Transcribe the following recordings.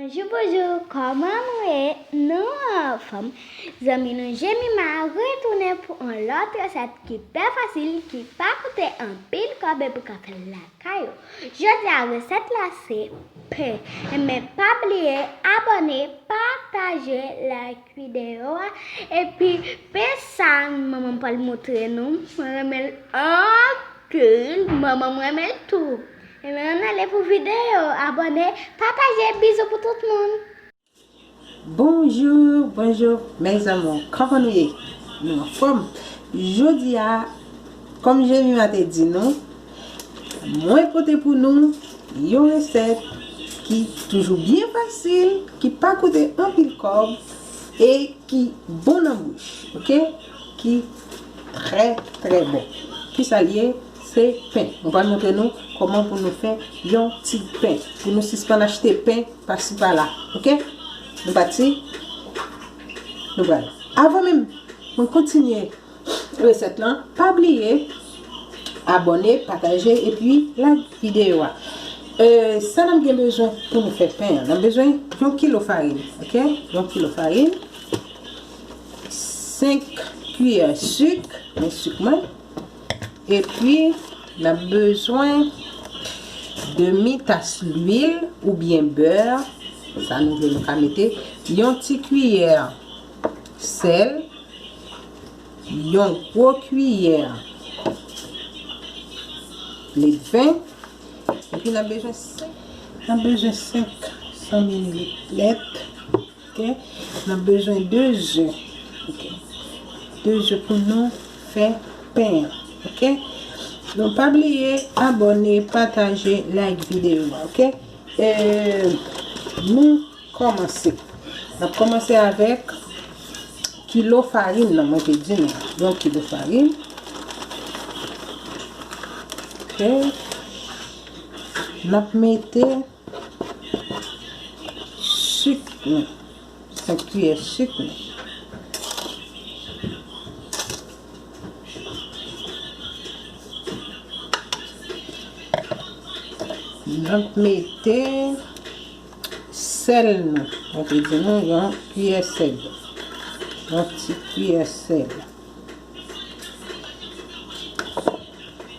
Bonjou bonjou kòman nou ye nou anfòm zanmi nou jemima retounen pou yon lòt resèt ki pè fasil ki pa koute anpil kòb epi kap fè lavi. Kay yo. Jodia resèt la se pen men pa bliye abòne pataje like video a epi pen sa manmanm pral moutre nou mwen renmenl anpil manmanm renmenl tou ann ale pou video abòne pataje bizou pou tout moun. Bonjour bonjour mes amours kòman nou ye nou anfòm jodi a kòm jemima te di nou mwen pote pou nou yon resèt ki toujou byen fasil ki pa koute anpil kòb e ki bon nan bouch ok ki trè trè bon ki sa l ye Se pen. Mwen pral montre nou kòman pou nou fè yon ti pen. Pou nou sispann achte pen pasi pala. Ok? Nou pati? Nou pral. Avan menm mwen kontinye resèt lan, pa bliye abòne, pataje epi like videyo a. Sa nap gen bezwen pou nou fè pen an. Nap bezwen yon kilo farin. Ok? Yon kilo farin. 5 kiyè sik. Mwen sik mwen. Epi nap bezwen demi tas lwil oubyen beurre, sa nou vle nou ka mete, yon ti kiyè sèl, yon gwo kiyè ledven, epi nap bezwen 500 mililit lèt. Ok nap bezwen 2 ze ok 2 ze pou nou fè pen an ok nou pa bliye abone pataje like video a ok nou komanse nap komanse avek kilo farin nan mwen te di nou yon kilo farin ok nap mete Sik nou, 5 kiyè sik nou. Nap mete sèl nou, mwen te di nou yon kiyè sèl. Yon ti kiyè sèl.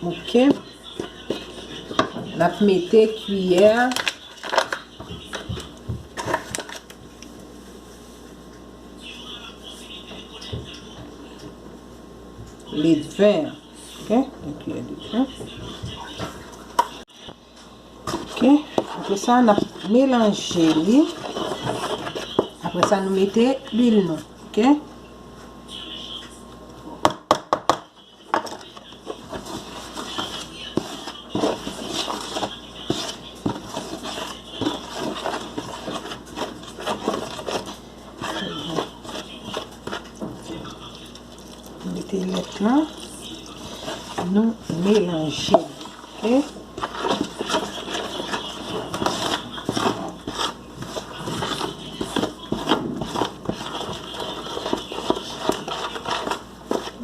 Ok. N ap mete kiyè. Ledven. Ok. Yon kiyè ledven. Ok apre sa nap melanje li apre sa nou mete lwil nou ok Mete lèt la. Nou melanje.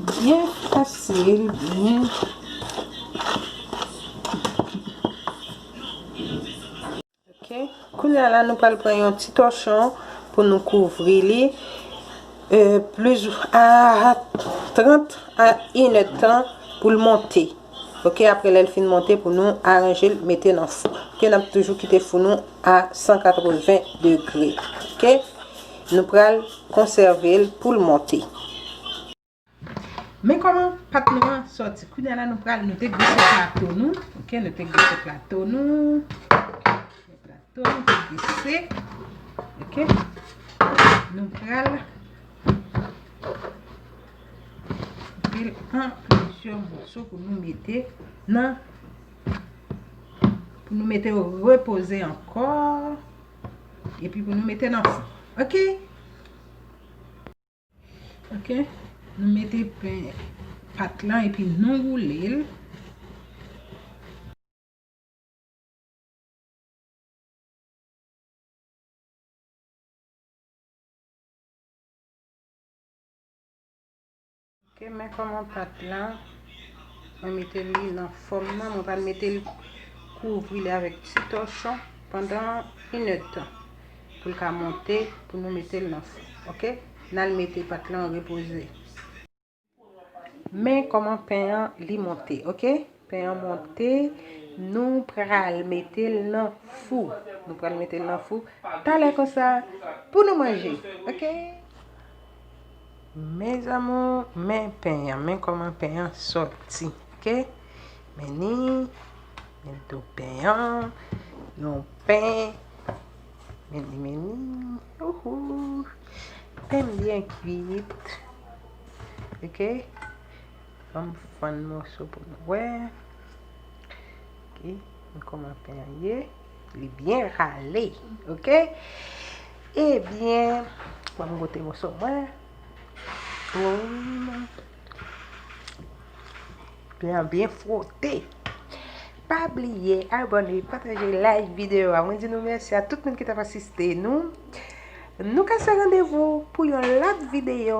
Byen fasil. Byen. Ok kounya la nou pral pran yon ti tòchon pou nou kouvri li plis a 30 a 1 èd tan pou l monte ok apre lèl fin monte pou nou aranjel mete nan fou ke nap toujou kite fou nou a 180 degre ok nou pral konsèvel poul monte. Men koman pat nou an soti. Kounya la nou pral nou te grise plato nou. Ok nou te grise plato nou. Plato nou te grise. Ok. Nou pral. Vil an pwosye mwoso pou nou mete nan. Pou nou mete ou repose anko. E pi pou nou mete nan. Ok. Ok Nou mete pen pat lan epi nou woule l. Ok men koman pat la mwen mete li nan fom nan mwen pral mete li kouvri li avek ti tochon pandan 1 heure de tan pou l ka monte pou nou mete l nan fou ok nal mete pat lan repoze men koman pen an li monte ok. Pen an monte, nou pral mete l nan fou. Nou pral mete l nan fou. Talè konsa, pou nou manje. Ok? Men zamou, men pen an. Men koman pen an soti. Ok? Men ni, men tou pen an. Yon pen. Men ni, men ni. Ouhou. Pen byen kwit. Ok? Banm fann moso pou nou wè. Ok nou koman pen an ye. Li byen rale ok. Ebyen banm gote moso mwen. Boum. Pen an byen fwote. Pa bliye abone, pataje, like videyo a. Mwen di nou mèsi a tout moun ki t ap asiste nou. Nou kase randevou pou yon lòt videyo.